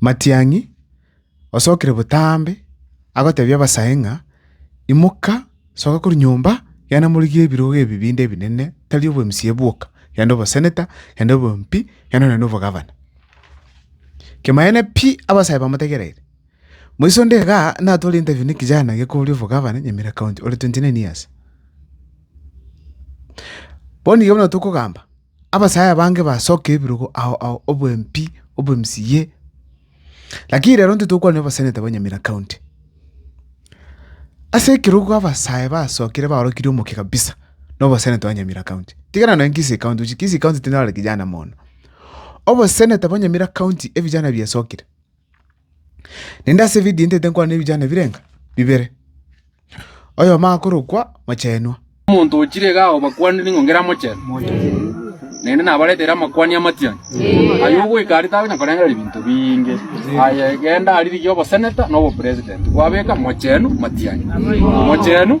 Matiang'i, osokire botambe, agotebia abasae ng'a, Imoka, soka korwa nyomba, genda morigie ebirogo ebi binde ebinene, tari obwemusie bwoka, genda oboseneta, genda obwmp, genda nonye na obogavana. Kemoeene pi abasae bamotegereire. Moiso onde iga natware interview ne ekijana gekoria obogavana Nyamira County ore twenty nine years. Bono iga buna tokogamba. Abasaya bange basoke ebirogo ao ao obwempi obwemsi ye. Lakini rero ntitokwana obasenete ba Nyamira County. Ase ekerogo abasaya basokire baorokiri omokia kabisa na obosenete ba Nyamira County. Tigana nonya Kisii County oche Kisii County tinyorire kijana mono. Obosenete ba Nyamira County ebijana biasokire. Naende ase evidio ntete nkwane nebijana birenga bibere, oyomo akorokwa Mochenwa. Omonto ochire iga agobakwanire ng'a ngera Mochenwa, naende nabaretere amakwani amatianyu, aye ogoika aria takonya korengereria binto biinge, aye genda aririgie oboseneta na obopresident, kwabeka Mochenwa matianyu.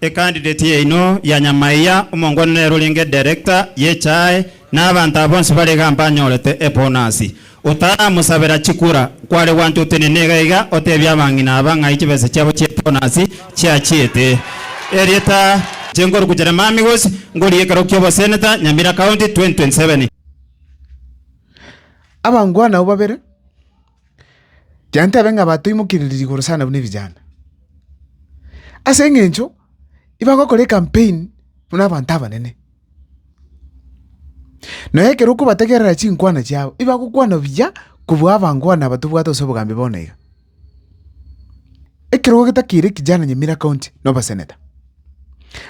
Ecandidate yaino ya nyama eya omongwana nere orenge director y'echae na abanto aba bonsi bare iga mbanyorete ebonasi. Otaramosabera chikura, kware gwancha otenene iga iga otebie abang'ina aba ng'ai chibesa chiabo chi'ebonasi chiachiete. Erieta inche nkorukucha na Mami Gosi ngorie ekero ki'obosenator Nyamira County 2027. Abangwana abwo babere. Gento ebe ng'a batoimokereria igoro sana buna ebijana. Ase eng'encho ibagokora ecampaign buna abanto abanene. Na ekero okobategerera chinkwana chiabo, ibagokwana buya kobua abankwani aba tobwate ase obogambi bono iga. Ekero ogetakeire kijana Nyamira County na obaseneta,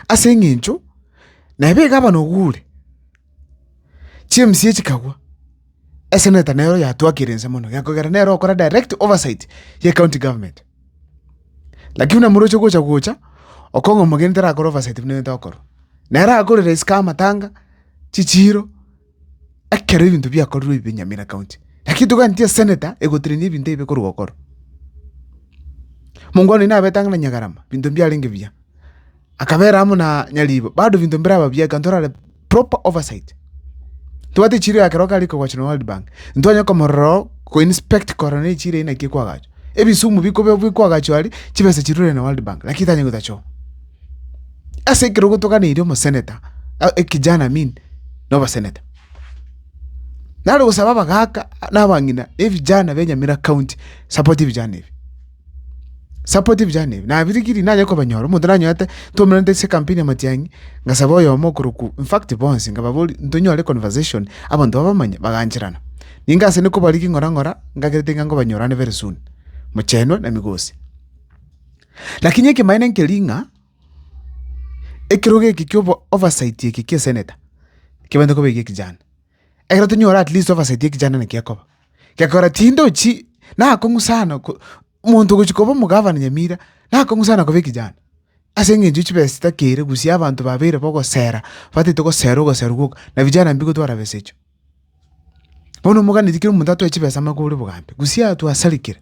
ase eng'encho neba egavana ogo ore. Chimisia chikagwa, eseneta nero yatwakire inse mono gekogera nere okora direct oversight ye county government. Lakini buna moroche gocha gocha, okong'a omogeni tarakore oversight buna ebinto akorwa. Nere akore rais ka amatanga, chichiiro, ekero ebinto biakorirwe ebibe Nyamira county. Lakini toganeti eseneta egotrenia ebinto ebibe korwa gokorwa. Mongwana oino nabete ang'e na Nyagarama, binto mbiarenge buya. Akabeera amo na nyariibo, bado ebinto mbiraba buya ekero torare proper oversight. Ntobwati echiro ya ekero kare kogocha na World Bank, ntitwanya komorora oo ko inspect korora nere echiro eye naki ekwagachwa. Ebisumu bikobe bikwagachwa aria, chibesa chirure na World Bank, lakini titanye gotacha oo. Ase ekero gotoganeirie omosenator, ekijana amin, na obasenator. Nare gosaba abagaka, na abang'ina, na ebijana bia Nyamira county, support ebijana ebi. supportive yane ebi nabirigirie nanye kobanyora, omonto nanyorete twaumeraniete ase ekampuni ya matiang'i, ngasaba oyomo okorokwa in fact bonsi nkababoria ntonyore conversation abanto babamanye bagancherana. Ninga ase ne kobarigia ng'ora ng'ora ngakerete ng'a nkobanyorane very soon, mochenwa na migosi. Lakini ekemaene nkeria ng'a, ekerogo eke kia obo- oversight eke kia esenator, kebande koba egia ekejani. ekero tonyore at least tobasetie ekichanda naki akoba, gekora tindochi nakong'u sana ko- omonto ogochia koba omogavana Nyamira nakong'u sana koba ekechanda, ase eng'encho ya chibesa chitakere gusii abanto babeire bagosera batete gosera ogosera gwoka na vijana mbi gotwara besa echio. Bono omoganetie kera omonto atoe chibesa amo akore bogambi, gusii ato asarigire.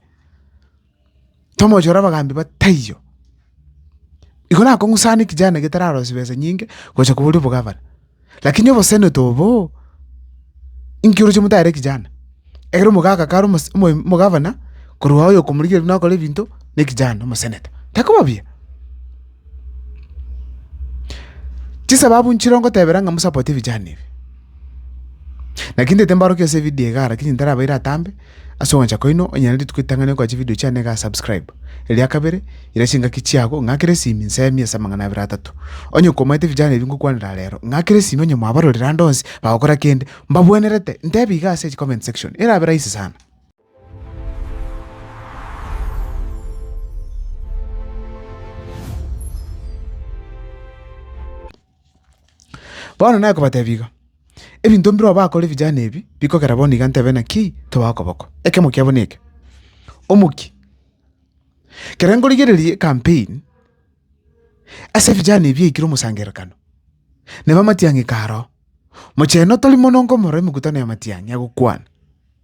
tomochore abagaambi ba taiyo. Igo nakong'usana ekijana getararosie besa nyinge gocha koboria obogavana. Lakini oboseneto oboo, inki oroche motare ekijana? Ekero omogaka kare omos omoim omogavana, korwa oyo okomorigereria nakore ebinto, na ekijana omoseneta. Takoba buya. Chisababu nchire ngotebera ng'a mosapote vijana ebi, naki ntaete mbaorokie ase evidio iga ara lakini ntarabaira atambe, ase ogwancha kwaino onye rituko ritang'ani okoa chividio chiane iga subscribe. Eria kabere, ira chingaki chiago, ng'akere esimi nsemie ase amang'ana abere atato. Onye nkomaete vijana ebi ngokwanera rero, ng'akere esimi onye mwabarorire ande onsi, bagokora kende, mbabwenerete, ntebie iga ase chicomment section, erabe rahisi sana. Bono nakobatebia iga, ebinto mbirobio bakore vijana ebi, bikogera bono iga ntebe naki tobae okoboko. Ekemo kiabo neke, omokia, kere nkorigereria ecampaign ase vijana ebi yaikire omosangererekano, neba amatiang'i karo, mochenu tori mono nkomorora emekutano y'amatiang'i agokwana.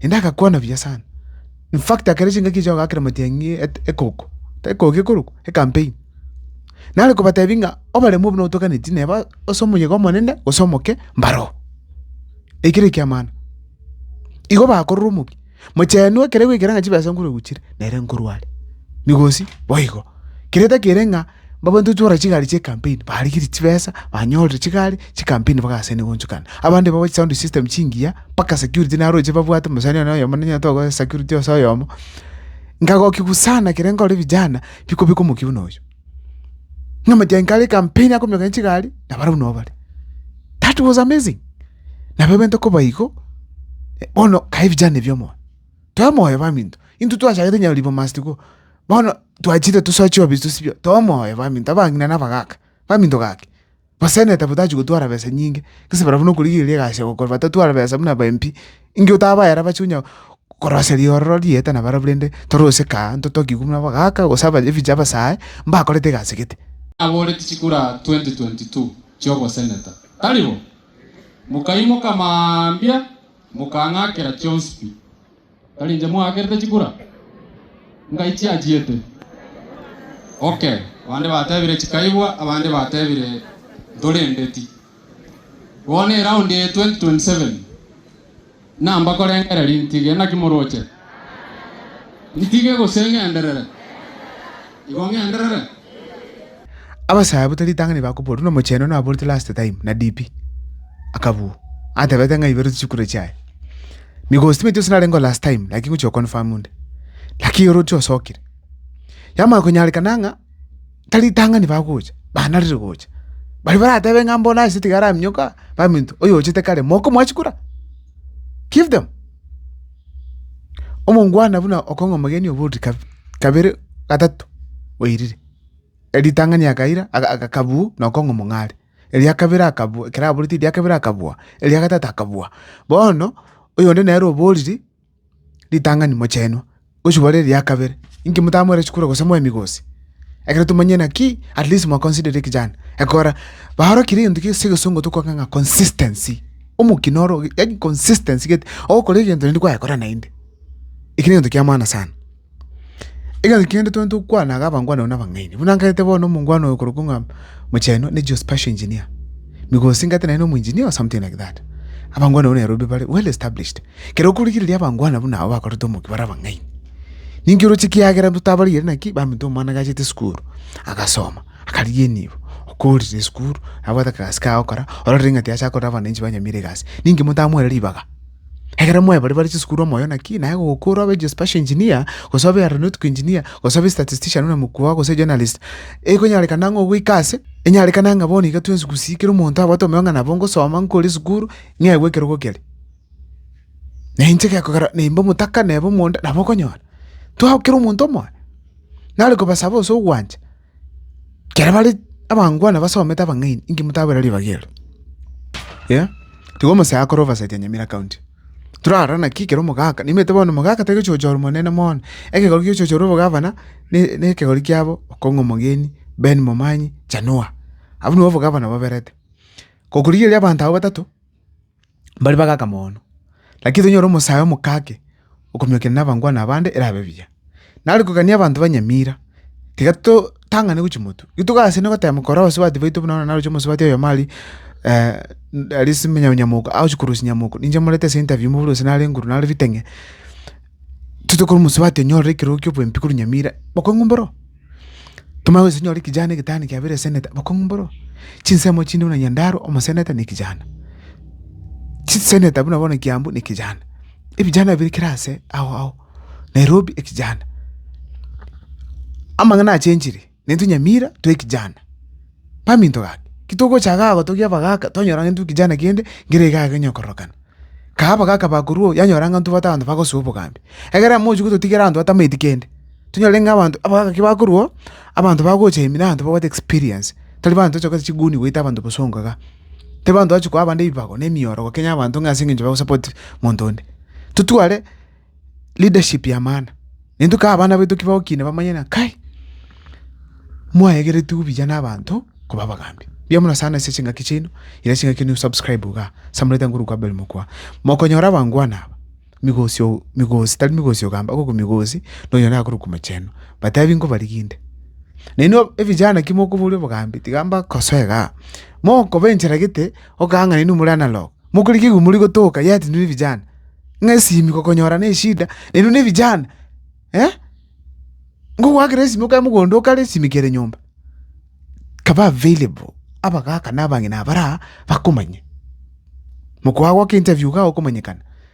Naende agakwana buya sana. In fact ekero chingaki echi chiagoakera amatiang'i et- ekoko, ekoko ekorokwa, ecampaign. Nare kobatebia ng'a obaremu buna otoganeti neba ase omoyega omonene gose omoke mbaroo. Ekere ekiamano, igo bakorora omokia, mochenwa ekere goikera ng'a chibesa nkoregochire, nere nkorwa are. Migosi boigo, kere takere ng'a. Mbabato twara chigari chie campaign barigerie chibesa banyorire chigari chi campaign bagasene gonchukana abande babache sound system chingiya mpaka security naroche babwate omosani one oyomo ninyora tokoe security ase oyomo nkagokigwa sana ekero nkore vijana bikobeka omokio buna oyio buna omotio aike are campaign akominyoka chigari na barabwo nabo bare that was amazing nabo ebento koba igo bono kae vijana ebi omonto toemoyo baminto intwe twachagete nyauribwa must go bono. Twachire tosoa chiobisi tosibie, too omoyo baminto, abang'ina na abagaka, baminto gaki, basenete abwo tachi gotwara besa nyinge, gese barabwo nokorigereria egasi ya gokora batatwara besa buna aba MP, inki otabaera bache onya korosia riororo rieta na barabwo rende torose kaa ntotokigwe buna abagaka gose aba ebiche abasae, mbakorete egasi gete. Aboreti chikura 2022 chioboseneta, tari bo? Mokaimoka mambia, mokang'akera chionsi pi. Tari inche mwaakerete chikura? Ngai chiachiete. Okay, abande batebire chikaigwa, abande batebire ntorendeti. Bono eround eye 2027 namba korengereria ntige, naki moroche? Ntige gose ng'enderere? Igo ng'enderere. Abasae buta ritang'ani bakoboria buna omochenu one aborete last time na DP akabua atebete ng'a ibere chichikure chiaye. Nigo estimate yonsi narengeo last time lakini ngochi oconfirm onde. Lakini oroche osokire. Yamanya konyarekana ng'a tari ritang'ani bagocha banarire gocha. Baria baratebe ng'a mbono ase tiga araminyoka baminto oyochete kare mokomoa chikura? Give them. Omongwana buna okong'a omogeni oboruti kab- kabere, gatato, oirire. Erio ritang'ani akaira aga- aga akabuu na okong'a omong'are. Eria kabere akabua ekero aboreti eria kabere akabua, eria gatato akabua. Bono, oyonde nere oboriri, ritang'ani mochenwa, gochia bare eria kabere. Inki motamweire chikura gose moemi gose? Ekero tomanyire naki, at least mwa consider the kijana. Ekora, baaro kere egento gese egesongo tokogaka ng'a consistency. Omokina oro, yaani consistency gete, ogokora egento naende kwayekora naende. Eki negento kia maana sana. Egento kende twonye tokwana iga abangwana na abang'aini. Buna nkaete bono omongwana oyo okorokwa ng'a Mochenu, ne geospatial engineer. Migosi nkaete naye nomo engineer or something like that. Abangwana abwo Nairobi bare well established. Kero okorigereria abangwana buna abo bakorete omokia bare abang'aini. Ninki oroche ekiagera intwe tabarigeri naki baminto omwana gachete esukuru agasoma akarigia enibo okorire esukuru nabwate akagasi kaye agokora ororire ng'a tiacha korera abananchi ba nyamira egasi ninki motamoere ribaga egere moe baria bare chisukuru omoyo naki naye gokora obe geospatial engineer gose obe aeronautic engineer gose obe statistician buna mokubao gose journalist ekonyarekana ang'e ogoika ase enyarekana ng'a bono iga twensi gusii kera omonto abwate omonyang'a nabo ngosoma nkore esukuru ng'egwe ekerogo kere. Na inche gekogera nimbe omotaka neba omonda, nabo okonyora. Twago kera omonto omoyo, nare kobasaba ase ogwancha, ekero bare abangwana basomete abang'aini, inki motabera ribaga ero? Eeh, tiga omosakoto obasatie Nyamira County. Torara naki ekero omogaka, nimanyete bono omogaka tari gochocha ore monene mono, ekegori giochochire ore obogavana, ne- nekegori kiabo, Okong'u Omogeni, Ben Momanyi, Chanua. Abwo nibo obogavana baberete. Gokorigereria abanto abwo batato. Mbare bagaka mono, lakini tonyore omosae omokake okomiokera nabangwana abande erabe buya. Nare kogania abanto ba Nyamira, tiga totang'ane gochia motwe. Rituko ase rinde gotema kora obosubati bwaito buna onye naroche omosubati oyomo aria aria ase Nyamoka agochia korosia Nyamoka. Ninche morete ase interview mobe gose nare nguru nare riteng'e. Titokora omosubati onyorire ekerogo kia oboembi korwa nyamira bokong'u mboro. Tomanye gose onyore ekejana egetano kiabeire eseneta bokong'u mboro. Chinsemo chinde buna Nyandarua omoseneta ne ekejana. Chiseneta buna bono Kiambu ne ekejana. Ebijana bire kera ase ao ao. Nairobi ekejana. Amang'ana achenchire. netunyamira twe ekijana. Baminto gaki, titogocha iga gotogia abagaka twanyora ng'a intwe ekijana kende nkere iga iga onye kororokana. Kae abagaka bakorwa oo yanyora ng'a intwe abanto bagosoa obogambi. Ekero amo ochi gototigera abanto batamaeti kende, tonyore ng'a abanto abagaka ki bakorwa oo, abanto bagocha ime na abanto babwate experience, tari abanto tocha kobwata chiguni goita abanto bosongo igaa. Tari abanto toachi koa abande ebibago na emioro gokenya abanto ng'a ase eng'encho bagosupport monto onde. Totware. leadership yamana, intwe kaba abana baito ki bagokina bamanye ng'a kai, mwaegeretigwe buya na abanto koba abagambi. Mbuya mono sana ase chingaki chiaino, ira chingaki ne usubscribe igaa, samulaete nguru kwa Abel Mokua. Mokonyora abangwana aba, migosi oo migosi tari migosi ogamba igo ko migosi na onya nakorwa kwa mochenu, batebi nkobarigia inde. Na inwe evijana ki mokoboria obogambi, tiga mbakosoe igaa, mokoba enchera gete okong'a ng'a inwe more analog. Mokorikigwe igwe mori gotoka, yet inwe nevijana, ng'a esimi gokonyora neshida, na inwe nevijana, eh? Ngogoakera esimi okae mogondo okare esimi kere nyomba. Kaba available, abagaka na abang'ina abare aa bakomanye. Mokoo agoaka interview igaa okomanyekana.